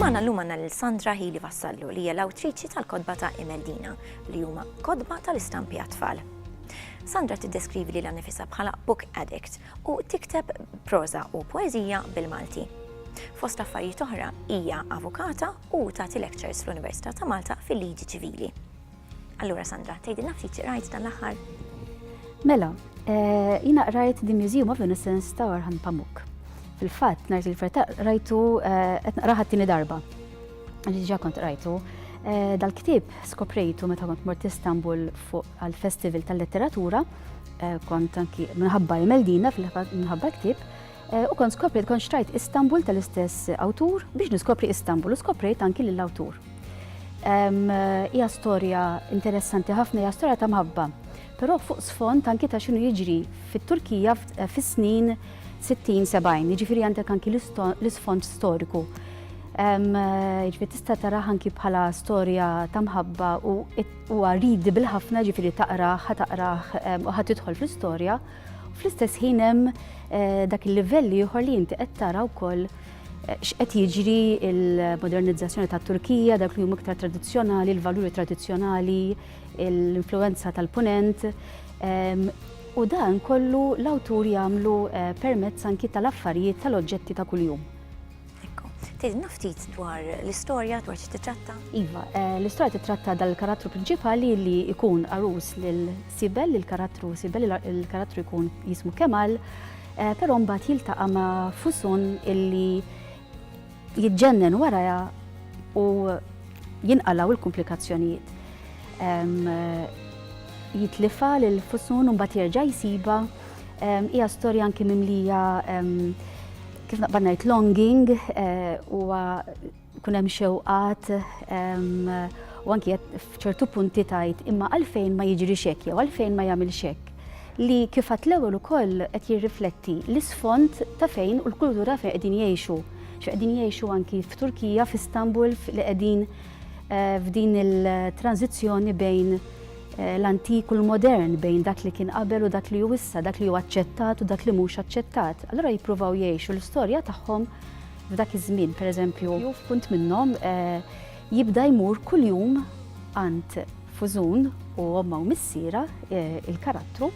Magħna llum għandna lil Sandra Hili Vassallu li hija l-awtriċi tal-kodba ta' Imeldina li huma kodba tal-istampi għat-tfal. Sandra tiddeskrivi li l-nifisa bħala book addict u tikteb proza u poezija bil-Malti. Fost affarijiet oħra hija avukata u tagħti lectures fl-Università ta' Malta fil-liġi ċivili. Allura Sandra, tgħidilna ftit xi qrajt dan l-aħħar? Mela, eh, jiena qrajt The Museum of Innocence ta' Orhan Pamuk. Fil-fatt, nhar il-ferta rajtu eh, qed naqraħa t-tieni darba. Ġiġa kont rajtu. Eh, dal-ktib skoprejtu meta kont mort Istanbul fuq għal-Festival tal-Letteratura, eh, kont anki minħabba Imeldina fil-minħabba ktib, U kont skopriet, kont xtrajt Istanbul tal-istess awtur biex niskopri Istanbul u skoprejt anki lill-awtur. Hija storja interessanti ħafna, hija storja ta' mħabba, però fuq sfond anki ta' xinu jiġri fit-Turkija fis-snin 60-70, jiġifieri għandek anki l-isfond storiku. Ġifieri tista' taraħ anki bħala storja ta' mħabba u huwa readable ħafna ġifieri taqrah, ħa taqrah u ħa tidħol fl-istorja. Fl-istess ħin hemm eh, dak il-livell ieħor li inti qed tara wkoll eh, x'qed jiġri il-modernizzazzjoni tat Turkija, dak li huma iktar tradizzjonali, il-valuri tradizzjonali, l-influenza tal-punent. Ehm, u dan kollu l-awtur jagħmlu eh, permezz anki tal-affarijiet tal-oġġetti ta' kuljum. Ekku. Tgħidilna ftit dwar l-istorja, dwar xi titratta? Iva, eh, l-istorja titratta dal-karattru prinċipali li jkun arus lil Sibel, lil karattru Sibel, il-karattru jkun jismu Kemal, eh, però mbagħad jiltaqa' ma' Fusun illi jitġennen waraja u jinqalaw il-komplikazzjonijiet. Eh, jitlifa lil Fusun u mbagħad jerġa' jsiba hija storja anki mimlija Kif naqbad ngħid longing huwa jkun hemm xewqat u anki f'ċertu punti tajt imma għalfejn ma jiġri xek jew għalfejn ma jagħmel xek li kif għat l-ewwel ukoll qed jirrifletti l-isfond ta' fejn u l-kultura fejn qegħdin jgħixu. X'qegħdin jgħixu anki f'Turkija, f'Istanbul li qegħdin eh, f'din il-tranzizzjoni bejn l-antik u l-modern, bejn dak li kien qabel u dak li hu issa, dak li hu aċċettat u dak li mhux aċċettat. Allura jippruvaw jgħixu l-istorja tagħhom f'dak iż-żmien, pereżempju, jew f'punt minnhom eh, jibda jmur kuljum għand Fużun u omma u missiera eh, il-karattru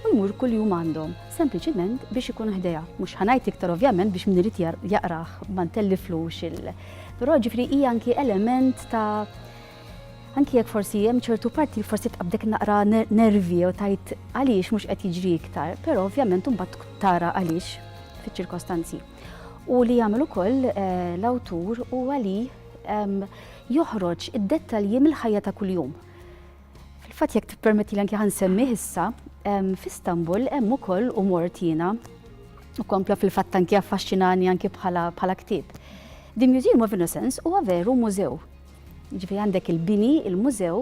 u jmur kuljum għandhom, sempliċiment biex ikun ħdejha. Mhux ħanajt iktar ovvjament biex min irid jaqrah ma ntelliflux il. Però ġifri hija anki element ta' Anki jekk forsi hemm ċertu parti li forsi tqabdek naqra nervi jew tajt għaliex mhux qed jiġri iktar, però ovvjament imbagħad tara għaliex fiċ-ċirkostanzi. U li jagħmel ukoll eh, l-awtur huwa li ehm, joħroġ id-dettalji mill-ħajja ta' kuljum. Fil-fatt jekk tippermetti li anke ħansemmi issa, ehm, f'Istanbul hemm ukoll u mort jiena u kompla fil-fatt anke affaxxinani anke bħala bħala ktieb. The Museum of Innocence huwa veru mużew Jiġifieri għandek il-bini, il-mużew,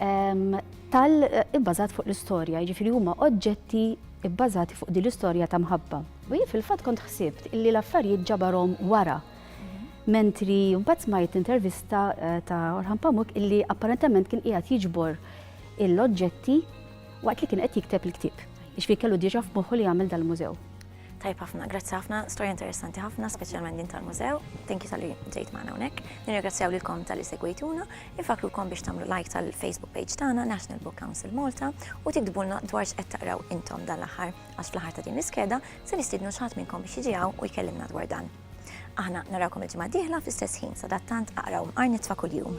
ehm, tal ibbażat fuq l-istorja, jiġifieri huma oġġetti ibbażati fuq din l-istorja ta' mħabba. U jien fil-fatt kont ħsibt illi l-affarijiet ġabarhom wara. Mentri mbagħad smajt intervista eh, ta' Orhan Pamuk illi apparentement kien qiegħed jiġbor l-oġġetti waqt li kien qed jikteb il-ktieb. Ixfi kellu diġa f'moħħu li jagħmel dal-mużew. Tajb ħafna, grazzi ħafna, storja interessanti ħafna, speċjalment din tal-mużew. Thank you tal-li ġejt magħna hawnhekk. Nirringrazzjaw lilkom tal-li segwejtuna, infakrulkom biex tagħmlu like tal-Facebook page tagħna National Book Council Malta u tiktbulna dwar x'qed taqraw intom dan l-aħħar għax fl-aħħar ta' din l-iskeda se nistidnu x'ħadd minnkom biex jiġi u jkellimna dwar dan. Aħna narawkom il-ġimgħa dieħla fl-istess ħin sadattant aqraw mqar nitfa' kuljum.